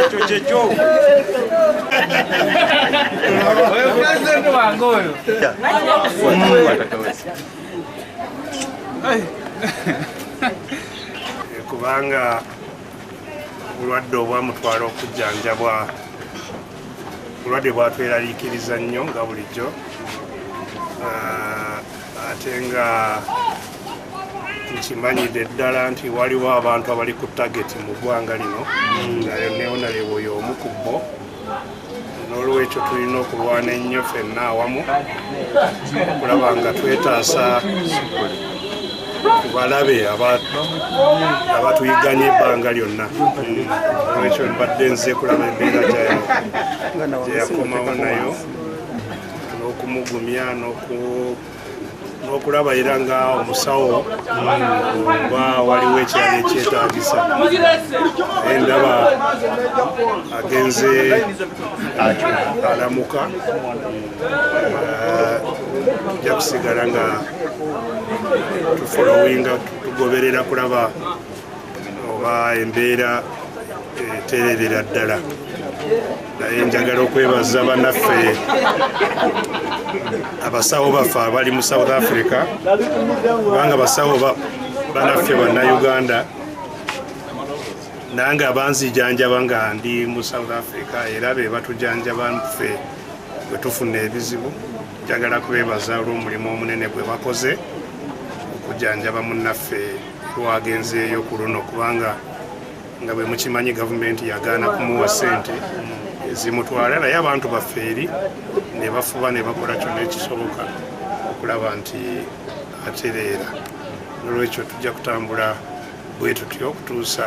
ekyo kyekyo oyo pulezidenti wange oyo kubanga obulwadde obwamutwala okujjanjabwa obulwadde bwatweraliikiriza nnyo nga bulijjo ah, ate nga nkimanyidde ddala nti waliwo abantu abali ku tageti mu ggwanga lino nayo neona lyewoyo omu ku bbo n'olwekyo tulina okulwana ennyo fenna awamu okulaba nga twetaasa balabe abatuyiganye ebbanga lyonna olwekyo mbadde nze kulaba embeera gyeyakomawo nayo n'okumugumya n'okulaba era nga omusawo oba waliwo ekyali ekyetagisa endaba agenze alamuka ojja kusigala nga tufolowinga tugoberera kulaba oba embeera etererera ddala naye njagala okwebaza banaffe abasawo baffe abali mu south africa kubanga basawo banaffe bannauganda nange abanzijanjaba nga ndi mu south africa era be batujanjaba nffe bwe tufuna ebizibu njagala kubebaza olw'omulimu omunene gwe bakoze okujanjaba munnaffe lwagenzeeyo ku luno kubanga nga bwe mukimanyi gavumenti yagaana kumuwa ssente ezimutwala naye abantu baffe eri ne bafuba ne bakola kyonna ekisoboka okulaba nti atereera nolwekyo tujja kutambula bwe tutyo okutuusa